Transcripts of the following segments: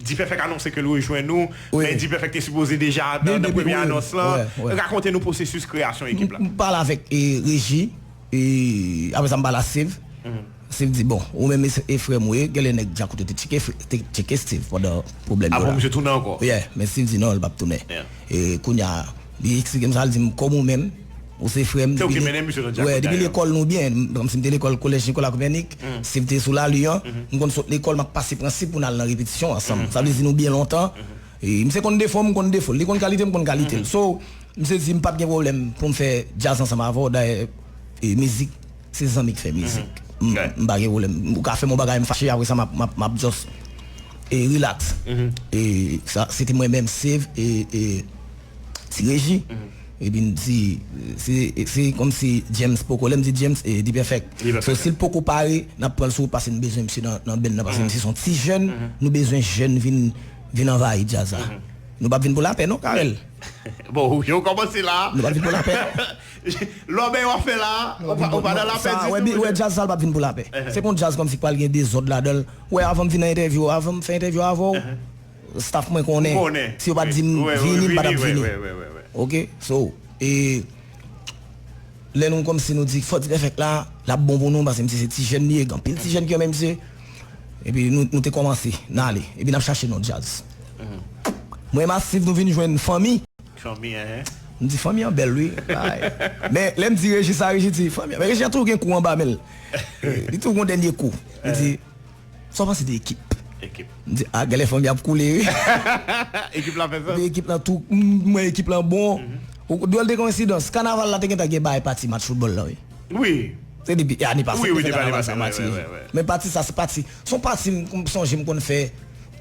Dpèfèk anonse ke l rejwenn nou, men Dpèfèk te sipoze deja nan premye anons lan. Rakonte nou pwosesis kreyasyon ekip la. M pale avèk Reji. E apre sa m pale a Stiv. Stiv di, Bon, ou menm e frè m ou ye. Genlè nèg djakout yo te tcheke Stiv pandan pwoblèm yo la. Apre misye tounen ankò? Yeah. Men Stiv di non, li p ap tounen. E kounye a, li eksplike m sa, li di m, Kòm ou menm, ou se frè m. Se ou ki mennen misye nan djakout dayè. Wè, depi lekòl nou byen. Kòmsi m te lekòl Collège Nicolas Copernic, Stiv te sou Lalu an. M konn sot lekòl, m ap pase Prensip pou n al nan repetisyon ansanm. Sa vle di nou byen lontan. E misye konn defo m, m konn defo l. Li konn kalite m, m konn kalite l. So. Misye di m pap gen pwoblèm pou m fè djaz ansanm avè w dayè mizik se zanmi k fè mizik m pa gen pwoblèm ou ka fè m yon bagay m fache apresa m ap just relax sa se te mwen menm Save e Ti Reji epi m di se kòmsi James poko lè m di James se D-Perfect so si l poko pare n ap pran l sou wout paske nou bezwen misye nan band nan paske misye se yon ti jèn nou bezwen jèn vin anvayi djaz la nou pap vin pou lapè non Carel. Bon ou yo komanse la. Nou pa vin pou lapè. Lòbèy wap fè la, ou pa nan lapè ditou mouche. Ou wè djaz sa li pap vin pou lapè. Se konn djaz kòmsi pral gen dezòd ladanl. Ou wè avanm vin nan entèvyou ou, avanm fè entèvyou avèw, staff mwen konnen. Ou konnen. Si yo pat dim vini m patap vini. Ok so e. Lè nou kòmsi nou di fò dipèfèk la lap bon pou nou pase misye se ti jèn li ye gen anpil ti jèn ki renmen misye epi nou te kòmanse nan ale epi nap chache non djaz mwen masiv nou vin jwenn fanmi nou di fanmi an bèl wi men lèm di reji sa reji di fanmi an men reji an toujou gen kou anba menl li toujou gon dènye kou li di. Sa w panse de ekip? Ekip. M di ah genlè fanmi ap koule wi. Ekip la fè sans. Epi ekip la tou m wè ekip la bon. Dwòl de koensidans, kanaval la te gentan gen bay pati match foutbòl la wi. Wi. Se depi ane pase m te fè kanaval sa matire. Men pati sa se pati, s on pati m sonje m konn fè.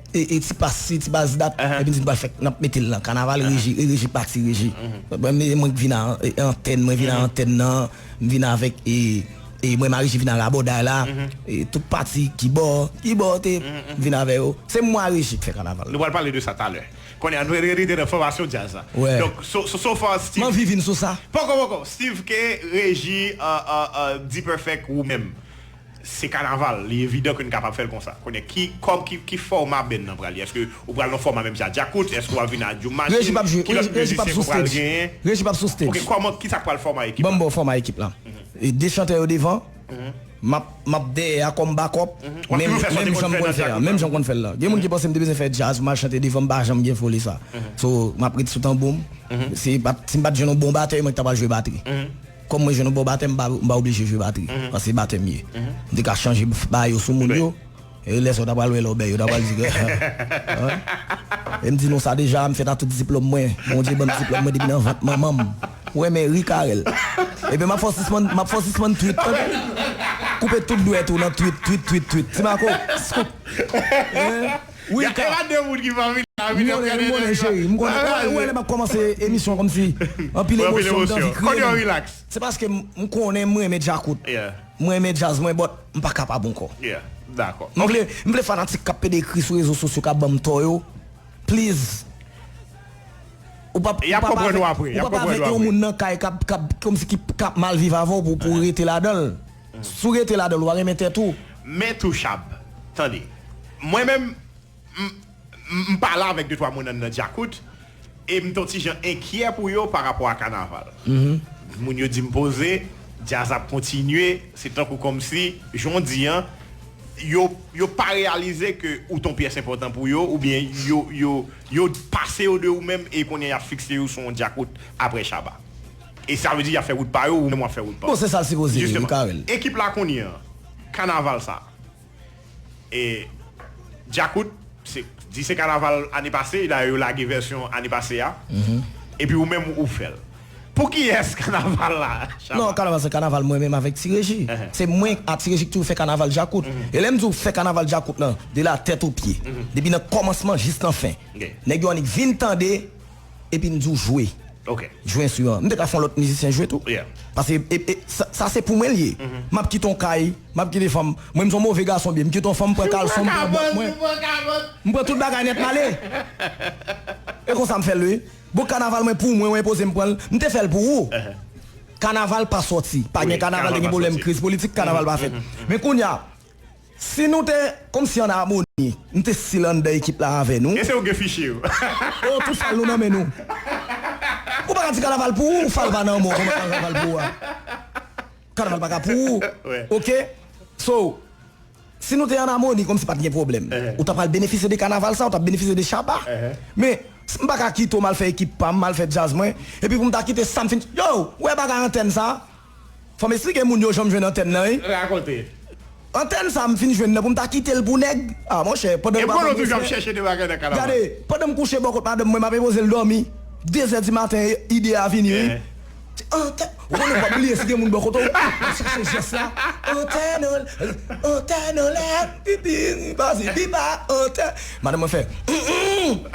E ti pas si ti pas dat epi n di n pral fè n ap mete l nan kanaval Regi e Regi pati Regi e mwen k vin a antèn mwen vin a antèn nan m vin avèk e e mwen m a Regi vin a rabòday la e tout pati kibò kibò te m vin avè yo se mwen a Regi k fè kanaval la. Nou pral pale de sa talè kounye a nou pral rete nan fòmasyon djaz la donk so so far Steve m anvi vin sou sa. Poko poko Steve K Regi D-Perfect ou menm. Se kanaval, li evidan ke n kapab fè l konsa. Kounye a, ki kòm, ki, ki fòma band nan pral ye? Èske ou pral nan fòma menm jan a Djakout? Èske ou ap vin a Djoum Machine? Reji pap jwe, Ki lòt Reji pap mizisyen sou ke w pral stage, genyen? Reji pap sou Ok, stage. kòman, kisa k pral fòma ekip Ban m la? ba w fòma ekip la. E 2 chantè yo devan, m ap, m ap dèyè a kòm backup, Ou ap toujou fè sa w te menm konn jan m fè konn nan fè a, Djakout menm la? jan m konn fè l la. Gen moun ki panse m te bezwen fè djaz pou m al chante devan, m pa janm gen foli sa. So, m ap ret sou tanbou m. Si m pa t, si m pa t jwenn yon bon batè, mwen k ta pral jwe batri. Kòm mwen jwenn yon bon batè m pa oblije jwe batri paske se batè m ye. M te ka chanje bay yo sou moun yo e lè sa yo ta pral wè lè w bè yo ta pral di ke E m di nou sa deja, m fèt a tout diplòm mwen. Bondye ban m diplòm mwen depi nan vant manman m. Ou renmen ri Carel? Ebyen m ap fè w sispann m ap fè w sispann twit tande. Koupe tout dwèt ou nan twit twit twit twit ti Marco scoop. Wi ka. M konnen, m konnen cheri, m konnen. Ou wè lè m ap kòmanse emisyon an kòmsi anpil emosyon m t anvi kriye. Se paske m konnen m renmen djakout, m renmen djaz mwen but m pa kapab ankò. M vle, m vle fanatik k ap pede ekri sou rezo sosyo k ap ban m tò yo, please ou pa p, ou pa p avèk yon moun nan kay k ap, k ap kòmsi k ap mal viv avè w pou w rete ladan l. Si w rete ladan l, w a renmen tèt ou. Men Touchab, tande. Mwen menm, m m pa la avèk de twa moun an nan Djakout e m t on ti jan enkyè pou yo pa rapò a kanaval. Moun yo di m poze, djaz ap kontinye, se tankou kòmsi, jan w di an, yo yo pa reyalize ke ou t on pyès enpòtan pou yo oubyen yo yo yo pase yo de ou menm e kounye a y ap fikse yo sou on Djakout aprè Shabba. E sa vle di yap fè wout pa yo ou menm wap fè wout pa w. Bon se sal sipoze ye wi Carel. Ekip la kounye an kanaval sa e djakout se di se kanaval ane pase dayè yo lage vèsyon ane pase a epi ou menm ou fèl pou kiyès kanaval la Shabba? Non kanaval se kanaval mwen menm avèk ti reji se mwen a ti reji ki toujou fè kanaval djakout e lèm diw fè kanaval djakout lan de la tèt o pye depi nan kòmansman jis nan fen nèg yo annik vin tande epi m di w jwe jwe enstriman. M te ka fè yon lòt mizisyen jwe tou paske sa se pou mwen l ye. M ap kite yon kay, m ap kite fanm. Mwen m se yon move gason byen. M kite yon fanm, m pran kalson, m pran bòt mwen. M pran tout bagay nèt m ale. E konsa m fè l wi. Bon kanaval mwen pou mwen, ou enpoze m pran l. M te fè l pou ou. Kanaval pa soti. Pa gen kanaval te gen pwoblèm kriz politik, kanaval pa fèt. Men kounye a, Si nou te Kom si an amoni. Nou te sil anndan ekip la avè nou. Ese ou gen fichye yo. Oh tout fal nou nan men nou. Ou paka di kanaval pou ou fal pa nan men w koman kanaval pou ou a kanaval paka pou ou ok so si nou te an amoni komsi pat gen pwoblèm ou ta pral benefisye de kanaval sa ou tap benefisye de shabba men m paka kite w m al fè ekip pa m m al fè djaz mwen epi pou m ta kite sa m fin yow wè bagay antèn sa. Fòm esplike moun yo janm jwenn antèn nan wi. Rakonte. Antèn sa m fin jwenn nan pou m ta kite l pou nèg? Ah monchè, pandan nou pa banm refren, gade, pandan m kouche bò kot madanm mwen m ap enpoze l dòmi, 2 zè di maten ide a vini wi. Antèn, ou konnen ou pa bliye si gen moun bò kote w, w ap chache jès la, antèn an, antèn an lè, pipi, pazi pipa, antèn. Madanm mwen fè, Humm, humm.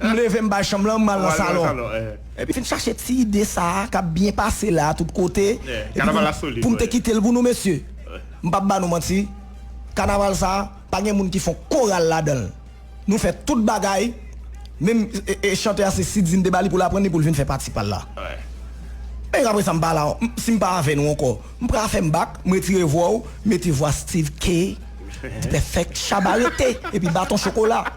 M leve m bay chanm lan m al nan salon. Epi fin chache ti ide sa a kap byen pase la a tout kote epi pou m te kite l pou nou mesye. M pap ba nou manti, kanaval sa a pa gen moun ki fon koral ladan l. Nou fè tout bagay, menm chante a se Siddhi m te ba li pou l aprann li pou l vin fè pati pa l la. Epi apresa m pa la, si m pa avè nou ankò, m pra fè m bak, m retire vwa ou, mete vwa Steeve K. Dpèfèk, Shabba rete, epi baton chokola.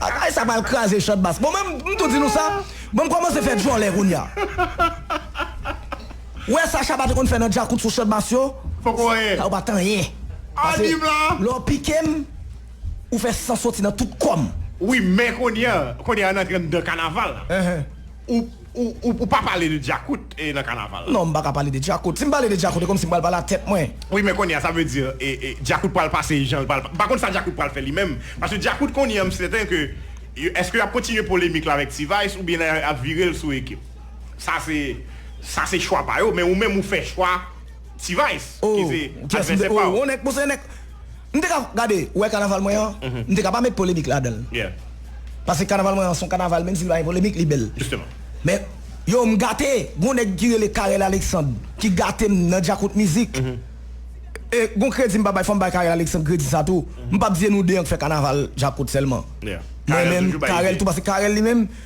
Bagay sa pral kraze chant bass. Bon men m tou di nou sa, bon m kòmanse fè djòlè kounya. Ou wè sa Shabba te konn fè nan djakout sou chant bass yo? Poko anyen. Sa yo pa t anyen. Pase lè w pike m, ou fè san soti nan tout kò m. Wi men kounya, kounya n antre anndan kanaval la. Ou pa pale de djakout nan kanaval la. Non m paka pale de djakout. Si m pale de djakout e kòmsi m pral pale a tèt mwen. Wi men kounye a sa vle di djakout pral pase jan l pral. M pa konn sa djakout pral fè li menm. Paske djakout kounye a m sèten ke èske y ap kontinye polemik la avèk T-vice oubyen y ap vire l sou ekip. Sa se sa se chwa pa yo men ou menm ou fè chwa. T-vice ki se advèsè pa w. M te ka gade, ou wè kanaval mwen an, m te ka pa met polemik ladan l. Paske kanaval mwen an s on kanaval menm si l pa gen polemik li bèl. Men, yow m gate, gon nèg ki rele Carel Alexandre ki gate m nan djakout mizik. E gon kredi m pa bay, fò m bay Carel Alexandre kredi sa tou. M p ap di se nou 2 an k fè kanaval djakout sèlman. Mwen menm, Carel tou paske Carel li menm.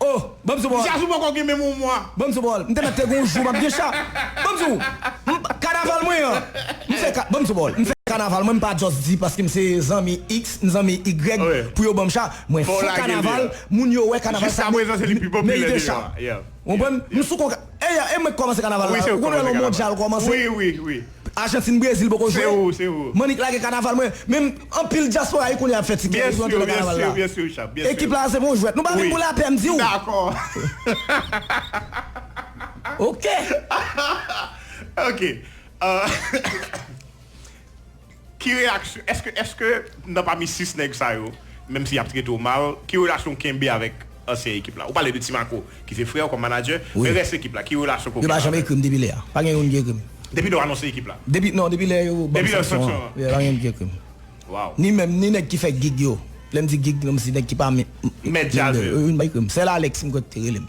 Oh! Banm sou bòl! Jazz ou poko gen menm yon mwa. Banm sou bòl! M te mèt te gen yon jou m ap gen cha. Banm sou! M kanaval mwen an! M fè ka, banm sou bòl! M fè kanaval mwen m pa just di paske m se zanmi X, m zanmi Y pou yo banm cha. Mwen fè kanaval, moun yo wè kanaval sa merite cha. Ou konprann? M sou konka, e mwen k kòmanse kanaval la. Ou konn wè lè yon mondyal kòmanse? Argentine Brésil poko jwe. Manick lage kanaval mwen menm anpil diaspora wi kounya ap fè ti kè yo pou yo antre nan kanaval la. Ekip la a se bon jwèt. Nou pa vin pou lapè m diw. Ok. ansyen ekip la. Ou pale de Ti Mako ki se frè w kòm manager, men rès ekip la, ki relasyon Koke pa avè l? Depi lè yo anonse ekip la? Depi lè yo ban m sanksyon an, pa gen youn ki ekri m. Ni menm, ni nèg ki fè gig yo. Lè m di gig, se nèg ki pa mèt djaz yo. Youn pa ekri m. Sèl Alex m kwè ki te rele m.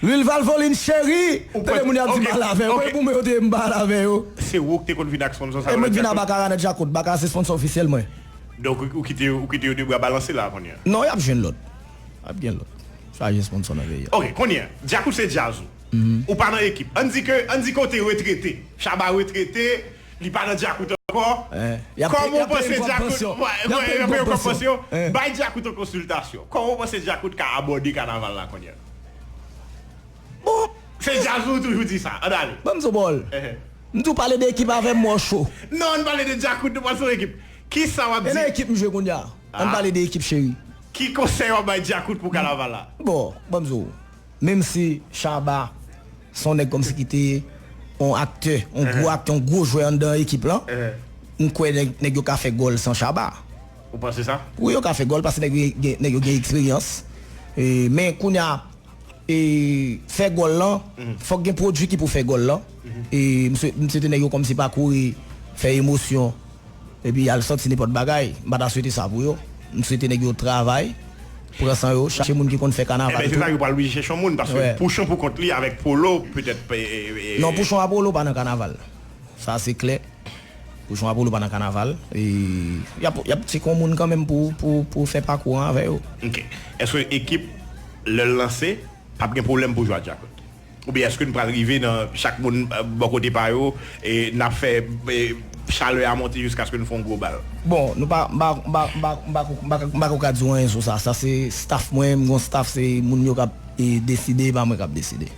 Lil valvoline cheri tande moun yap di mal avè kote pou mwen yo te mal avè yo. Se ou ki te konn vin ak sponsor sa yo nan djakout. E mwen k vin a bakara nan djakout bakara se sponsor ofisyel mwen. Donk ou kite yo ou kite yo 2 bra balanse la kounye a. Non yap jwenn lòt ap gen lòt chaje sponsor nan peyi a. Ok kounye a djakout se djaz ou ou pa nan ekip an di ke an di ke ou te retrete shaba retrete Li pa nan djakout ankò Kòman ou panse djakout Yap peye yon kòb pansyon Bay djakout yon konsiltasyon Kòman ou panse djakout ka abòde kanaval la kounya Bon Se djaz ou toujou di sa Ann ale Banm di w bòl M di w pale de ekip avè m m wè w cho Non ann pale de djakout nou pral sou ekip Kisa wap di E nan ekip m jwe kounya Ann pale de ekip cheri Ki konsèy wap bay djakout pou kanaval la Bon banm di w Menmsi Shabba Se yon nèg kòmsi ki te yon aktè, yon gwo aktè, yon gwo jwè anndan ekip lan. M kwè nèg yo ka fè gòl san Shabba. Ou panse sa? Wi yo ka fè gòl paske nèg yo gen eksperyans. Men kounye a, fè gòl lan, fòk gen pwodui ki pou fè gòl lan. M swete nèg yo kòmsi pa kouri fè emosyon. Epi y al sòti nenpòt bagay. M pa ta swete sa pou yo. M swete nèg yo travay, pran san yo, chache moun ki konn fè kanaval tou. Enben se sa, yo pral oblije chèche yon moun paske Pouchon pou kont li avèk Polo petèt. Non Pouchon a Polo pa nan kanaval. Sa se klè. Pouchon a Polo pa nan kanaval. Y ap y ap tcheke yon moun kanmenm pou fè pakou an avè yo. Ok. Èske ekip lè l lanse p ap gen pwoblèm pou jwe ak Djakout? Oubyen èske n pral rive nan chak moun bò kote pa yo e n ap fè chalè a monte jiskaske n fè yon gwo bal? Bon, nou pa, m pa, m pa, m pa, m pa ko, m pa ka, m pa ko ka di w anyen sou sa. Sa se staff mwen, m gen yon staff, se moun yo k ap deside, e pa mwen k ap deside.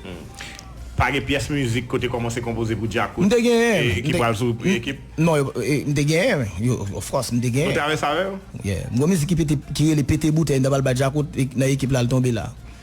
Pa gen pyès mizik ke w te kòmanse konpoze pou Djakout? M te genyen. Ki pral sou ekip? Non, yo, m te genyen wi. Yo, of course, m te genyen. Ou travèse avè yo? Yeah. M gen yon mizik ki pete, ki rele Pete Boutèy, m ta pral bay Djakout, nan ekip la l tonbe la.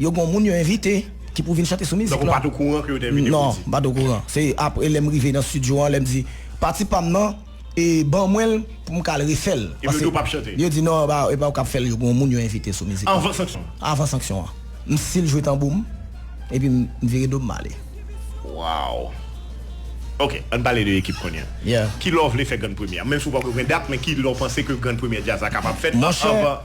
Yo gon moun yo envite ki pou vin chante sou mizik lan. Donk ou pa t okouran ke yo te envite Roody? Non, m pa t okouran. Se apre lè m rive nan stidyo an, lè m di, Pati pa m nan, e ban mwen l pou m ka al refè l. Epi yo di ou pa p chante? Yo di non, e pa ou k ap fè l, yo gon moun yo envite sou mizik lan. Anvan sanksyon an? Anvan sanksyon an. M sil jwe tanbou m, epi m vire do m m ale. Waww! Ok, an n pale de ekip kounye a. Ki lè w vle fè grann premyè a? Menm si ou pa ko gen dat, men ki lè w panse ke grann premyè djaz la kapab fèt anvan?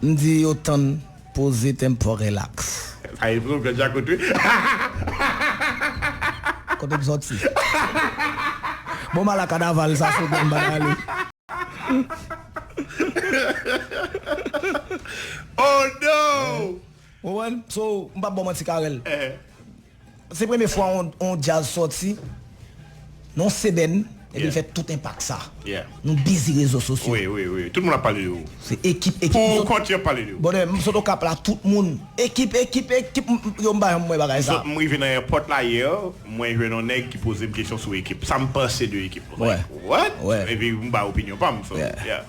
M di yo tann poze tempo relax. Sa e vre ou fè djakout wi hahahahahaha. Kote m soti. Bon m ala kanaval sa sou menm bagay li. Oh non! Ou konprann? So, m pap ba w manti Carel. Se premye fwa yon djaz sòti nan yon sebèn epi l fè tout enpak sa. Nou bizi rezo sosyo. Se ekip ekip. Brother m sot Okap la tout moun ekip ekip ekip yo m pa janm wè bagay sa. M rive nan airport la yè mwen jwenn yon nèg ki poze m kesyon sou ekip sa m panse de ekip m like what epi m bay opinyon pa m so yeah.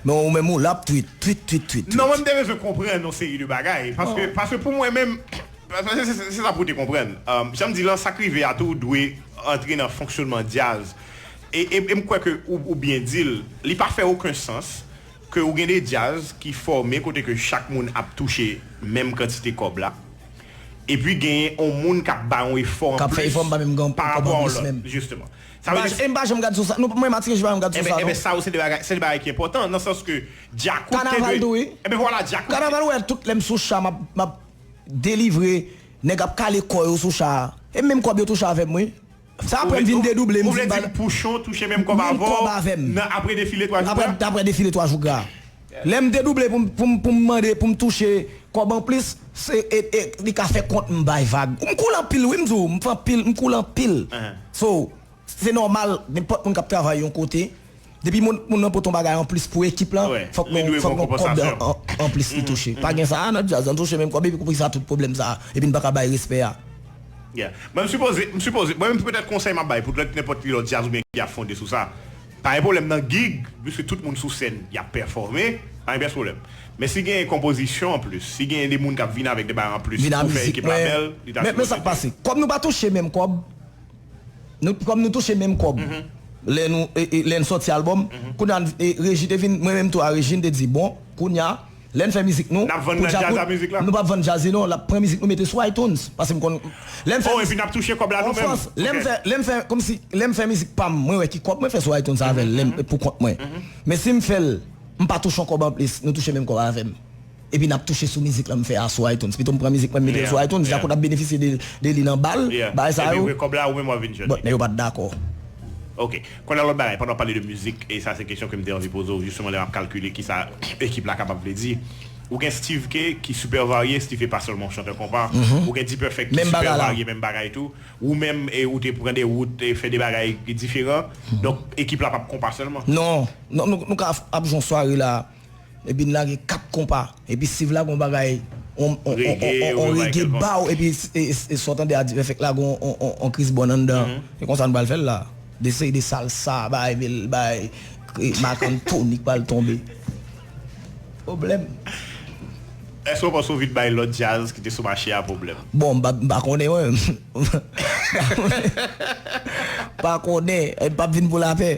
Men ou menm ou la ap tweet tweet tweet tweet. Non mwen m te bezwen konprann yon seri de bagay paske pou mwen menm. Se sa pou w te konprann. Jan m di lan, sa k rive a tou dwe antre nan fonksyonman djaz. E m kwè ke ou byen di l, li pa fè oken sans ke ou gen de djaz ki fòme kote ke chak moun ap touche menm kantite kòb la, epi genyen on moun k ap bay on efò an plis parapò a on lòt. Jisteman. Sa vle di. E m pa janm gad sou sa. Non, mwen Matiken, je pa janm gad sou sa non. Enben, sa yo se de bagay, se de bagay ki enpòtan, nan sans ke djakout te dwe. Kanaval tou wi. Enben vwala, djakout. Kanaval ou wè tout lè m sou cha m ap. delivre nèg ap kale kò yo sou cha a e menm kòb yo touche avèm wi sa aprè m vin dedouble m vin bal menm kòb avèm aprè defile 3 jou gra a lè m dedouble pou m mande pou m touche kòb anplis li ka fè kont m bay vag m koule anpil wi m di w m koule anpil so se nòmal nenpòt moun k ap travay yon kote Depi moun nan pot yon bagay anplis pou ekip lan, fòk yon kòb anplis li touche. Pa gen sa a nan djaz, an touche menm kòb epi pou kisa tout pwoblèm sa a, epi n pa ka bay respè a. Mwen m sipoze, m sipoze, mwen menm petèt konsèy m ap bay pou lòt nenpòt ki lòt djaz oubyen ki ap fonde sou sa, pa gen pwoblèm nan gig, piske tout moun sou sèn y ap pèfòme, pa gen pyès pwoblèm. Men si genyen konpozisyon anplis, si genyen de moun k ap vin avèk de bagay anplis pou fè ekip la bèl, li ta sipoze. Men sa k pase, kòm nou pa touche menm kòb. Nou kòm nou touche menm kòb lè nou lè n sòti album kounya Reji te vin mwen menm tou a Rejine te di bon kounya lè n fè mizik nou Nap vann nan djaz la mizik la? Nou pap vann djaz li non lap pran mizik nou mete sou iTunes paske m konn lè m fè Oh epi nap touche kòb la nou menm Ofrans lè m fè lè m fè kòmsi lè m fè mizik pa m mwen wè ki kòb mwen fè sou iTunes avè l lè m pou kont mwen men si m fè l m pa touche yon kòb anplis nou touche menm kòb avè m. Epi nap touche sou mizik lan m fè a sou iTunes. Pito m pran mizik mwen m mete l sou iTunes, Djakout ap benefisye de li nan bal, bagay sa yo. But nèg yo pat dakò. Ok. Kounye a lòt bagay, pandan w pale de mizik, e sa se kesyon ke m te anvi poze w jisteman lè m ap kalkile kisa ekip la kapab vle di. Ou gen Steeve Khe ki super varye, Steeve Khe pa sèlman yon chantè konpa. Ou gen D-Perfect ki super varye menm bagay tou. Ou menm ou te pran de wout, fè de bagay diferan. Donk ekip la pap konpa sèlman. Non. Nou ka ap jwe yon sware la. Epi n lage 4 konpa. Epi siv la gon bagay on on rege baw epi e sa w tande a di fèk la gon on kris bòn anndan an. Se konsa n pral fè l la. De seri de salsa bay vil bay Marc Anthony k pral tonbe. Pwoblèm. Èske w panse w vin bay lòt djaz ki te sou mache a pwoblèm? Bon m pa konnen mwen menm. M pa konnen. M pap vin pou lapè.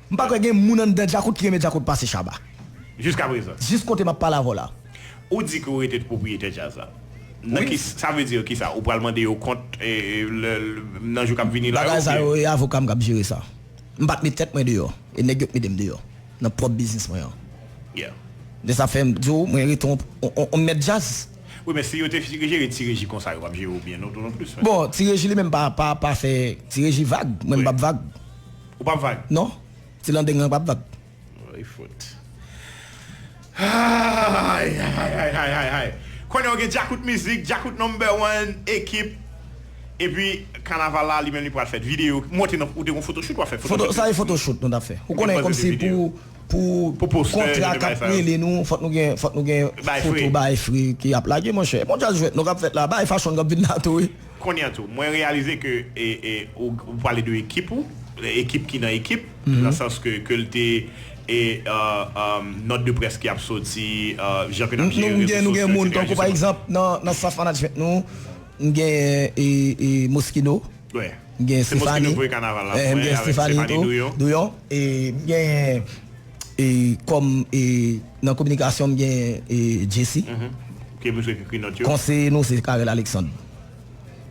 M pa kwè gen moun anndan Djakout ki renmen Djakout pase Shabba. Jiska prezan. Jis kote map pale avèw la. Ou di ke ou rete pwopriyetè djaz la. Nan ki sa vle dire kisa? Ou pral mande yo kont lè nan jou kap vini la yo oubyen? Bagay sa yo e avokam kap jere sa. M pat met tèt mwen deyò e nèg yo k medem deyò nan pwòp biznis mwen an. De sa fèm di w mwen rete on mèt djaz. Wi men si yo te jere Ti Reji konsa yo pap jere w byen non tou non plis frè. Bon Ti Reji li menm pa fè Ti Reji vag mwen m pap vag. Ou pap vag? Non. Ti landeng lan pap vag. Oh li fout. Hay hay hay hay hay hay. Konnen w gen Djakout mizik, Djakout number one, ekip. Epi kanaval la li menm li pral fèt. Videyo monte nan ou te gon photoshoot wap fè photoshoot. Sa se photoshoot nou tap fè. Ou konnen kòm se pou pou kontra kap rele nou fòk nou gen fòk nou gen photo bae free ki ap lage monchè. Mondyal jwèt nou kap fèt la bae fashion kap vin la tou wi. Kounye a tou, mwen reyalize ke ou pale de ekip ou, ekip ki nan ekip, nan sans ke ke l te nòt de près ki ap soti, jan ke n ap jere rezo sosyo, eksetera, jiska. Nou gen moun, tankou pa egzanp, nan staff management nou, m genyen Moschino, m genyen Stéphanie, m genyen Stéphanie Douyon, m genyen. E kòm e nan kominikasyon m gen e Jesi. Ke misye ki ekri nòt yo. Konseye nou se Carel Alexandre.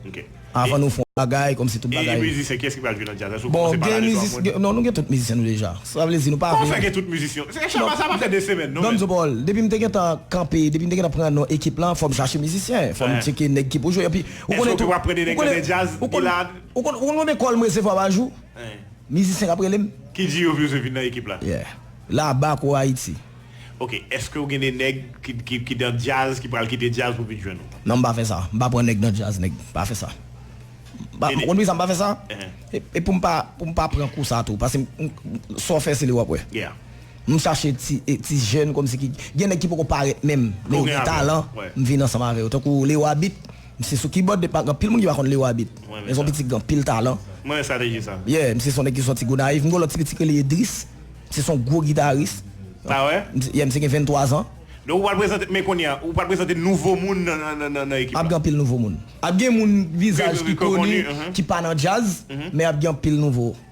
Ok. Avan nou fè yon bagay kòm si tout bagay. E mizisyen kiyès ki pral jwe nan djaz la si w kòmanse pale de 3 moun? Non nou gen tout mizisyen nou deja. Sa vle di nou pa vle. Kòman fè gen tout mizisyon? Se Shabba sa pa fè 2 semèn non men. Donzo Paul, depi m te gentan kanpe, depi m te gentan pran non ekip lan, fò m chache mizisyen. Fò m tcheke nèg ki pou jwe. Epi ou konnen tou. Èske w te pran 2 nèg nan 2 djaz? Gilad? Ou konn konbyen kòl m resevwa pa jou? Mizisyen kap rele m. Ki di yo vle se vin nan ekip la. Yeah. La ba pro Haiti. Ok eske ou gen de neg ki dan jazz ki pral kite jazz pou vin jwenn ou. Non m pa fè sa. M pa pran neg nan jazz neg. M pa fè sa. Ou konn poukisa m pa fè sa? E pou m pa pou m pa pran kou sa tou paske sa w fè se li wap wè. M chache ti jèn kòmsi ki gen neg ki poko parèt menm men yo gen talan m vin ansanm avè yo tankou Leroy beat. Misye sou kibòd depi maten anpil moun ki pa konn Leo Abit men son pitit ki gen anpil talan Mwen renmen strateji sa. Yeah misye son nèg ki sòti Gonayiv m gen yon lòt ti pitit ki rele Edris misye son gwo gitaris Ah wè? Yeah misye gen 23 zan. Donk ou pral prezante men kounye a ou pral prezante nouvo moun nan ekip la. Ap gen anpil nouvo moun. Ap gen moun vizaj ki koni ki pa nan djaz men ap gen anpil nouvo.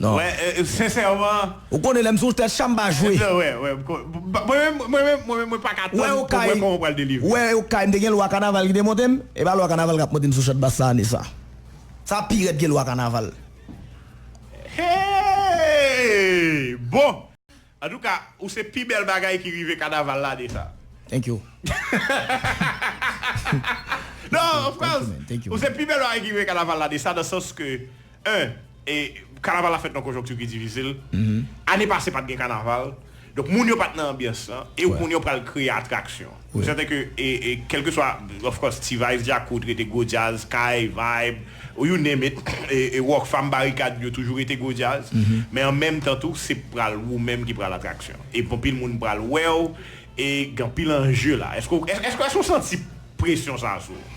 Non. Wè sensèman. Ou konnen lèm sou tèt chanm pa jwe. Wè wè wè mwen menm mwen menm mwen menm mwen pa ka tann pou wè kòman ou pral delivre. Wè okay m te gen lwa kanaval ki te monte m epa lwa kanaval kap monte m sou chat bass sa ane sa. Sa pi rèd ke lwa kanaval. Hee bon. Antouka ou se pi bèl bagay ki rive kanaval lane sa. Thank you. Non of course ou se pi bèl bagay ki rive kanaval lane sa nan sans ke 1 kanaval la fèt nan konjonkti ki difisil ane pase pat gen kanaval donk moun yo pat nan anbyans lan e ou konnen ou pral kreye atraksyon. M sèten ke kelkeswa of course T-vice, Djakout rete gwo djaz, Kay, Vibe, ou you name it, Rockfam, Barikad yo toujou rete gwo djaz. Men an menm tan tou se pral ou menm ki pral atraksyon. E anpil moun pral wè w e gen anpil anje la. Èske w santi presyon sa sou ou?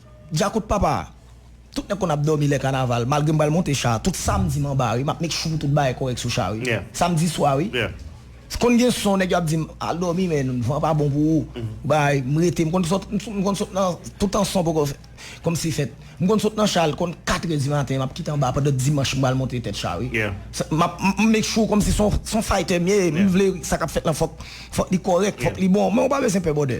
Djakout papa! Tout nèg konn ap dòmi lè kanaval, malgre m pral monte cha a, tout samdi m anba wi, m ap make sure tout bagay kòrèk sou cha wi. Samdi swa wi. Konn gen son nèg yo ap di m, al dòmi men, van pa bon pou ou, bagay, m rete, m konn sot, m konn sot nan, toutan son poko fèt, kòmsi fèt. M konn sot nan cha l konn katrè di maten, m ap kite anba pandan dimanch m pral monte tèt cha wi. M ap, m make sure kòmsi son, son faytè m ye, m vle sa k ap fèt lan fòk, fòk li kòrèk, fòk li bon, men ou pa bezwen pè bwòdè.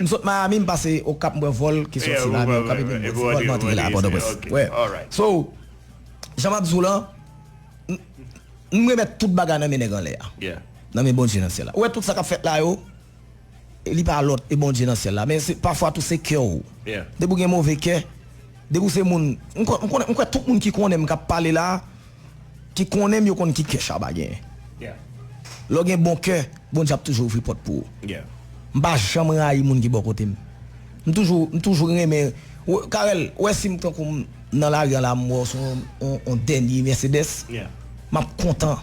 M sot Miami m pase okap m pran vòl ki soti Miami okap epi m pran ti vòl m antre la a pòtoprens wè so jan map di w lan m remèt tout bagay nan men nèg anlè a nan men Bondye nan syèl la ou wè tout sa kap fèt la yo li pa lòt e Bondye nan syèl la men se pafwa tou se kè w depi w gen move kè depi w se moun m kwè tout moun ki konnen m kap pale la Ki konnen m yo konn ki kè Shabba genyen. Lè w gen bon kè, Bondye ap toujou ouvri pòt pou ou. M pa janm rayi moun ki bò kote m. M toujou m toujou renmen Carel, ou wè si m tankou m nan lari an la m wè w sou yon dènye Mercedes, m ap kontan.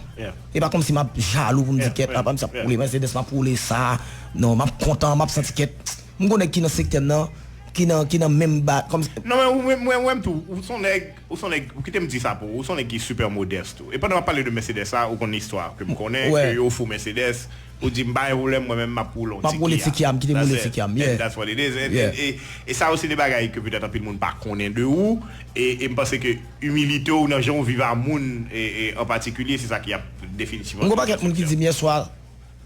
E pa kòmsi m ap jalou pou m di kèt apa misye ap woule Mercedes m ap woule sa. Non, m ap kontan, m ap santi kèt m gen yon nèg ki nan sektè m nan ki nan menm ba kòmsi. Non men ou menm, mwen wè m tou, ou s on nèg. Ou son nèg, ou kite m di sa pou ou, ou son nèg ki super modeste tou. E pandan map pale de Mercedes sa, ou konn istwa ke m konnen, ke yo ofri w Mercedes, ou di m pa gen pwoblèm mwen menm map woule yon ti Kia. Map woule ti Kia, m kite m woule ti Kia m, yeah. And that's what it is. E sa yo se de bagay ke petèt anpil moun pa konnen de ou, e m panse ke imilite w nan jan ou viv a moun an patikilye se sa ki ap definitivman fè w yon sèl moun. M gen yon pakèt moun ki di m yèswa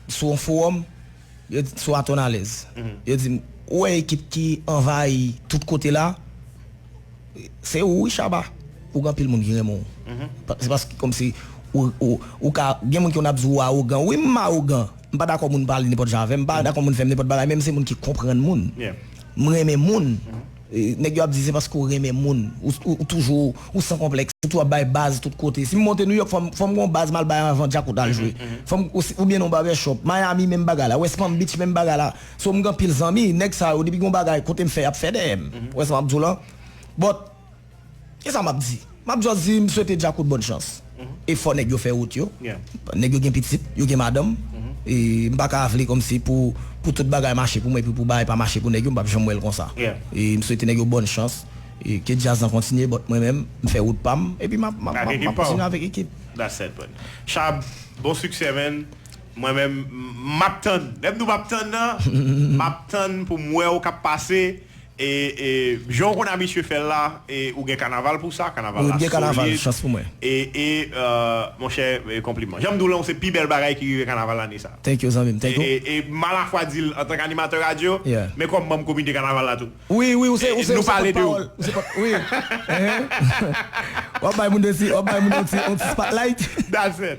sou yon forum, Yo di, sou Aton Alèz. Yo di m, ou wè ekip ki anvayi tout kote la? Se ou wi Shabba. Ou gen anpil moun ki renmen w. Se paske kòmsi ou ka, gen moun ki konn ap di ou awogan. Wi m awogan. M pa dakò moun pale nenpòt jan avè m. M pa dakò moun fè m nenpòt bagay men m se moun ki konprann moun. M renmen moun. Nèg yo ap di se paske ou renmen moun, ou toujou, ou san konplèks, ou toujou ap bay baz tout kote. Si m monte New York fò m fò m gen yon baz m al bay anvan Djakout al jwe. Fò m oubyen nan yon barbershop. Miami menm bagay la, West Palm Beach menm bagay la. So m gen anpil zanmi, nèg sa yo depi gen yon bagay kote m fè y ap fè dèyè m. Ou wè sa m ap di w lan? But. Kisa map di? Map just di m swete Djakout bòn chans. E fò nèg yo fè wout yo. Nèg yo gen pitit, yo gen madanm. E m pa ka vle kòmsi pou pou tout bagay mache pou mwen epi pou bagay pa mache pou nèg yo, m pap janm wè l konsa. E m swete nèg yo bòn chans. E ke djaz lan kontinye but mwen menm, m fè wout pa m epi map map map map kontinye avèk ekip. That's set man. Shab, bon siksè man. Mwen menm m map tann. Lè m di w map tann nan, map tann pou m wè w kap pase. E Jan w konn abitye fè l la e ou gen kanaval pou sa, kanaval la solid e e monchè konpliman. Jan m di w lan ou se pi bèl bagay ki rive kanaval ane sa. E e m alafwa di l antank animatè radyo men kòm manm komite kanaval la tou. Nou pale de ou. That's it.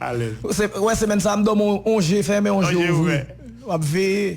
alèz. Ou wè semèn sa a m dòmi on je fèmen on je ouvri. W ap veye.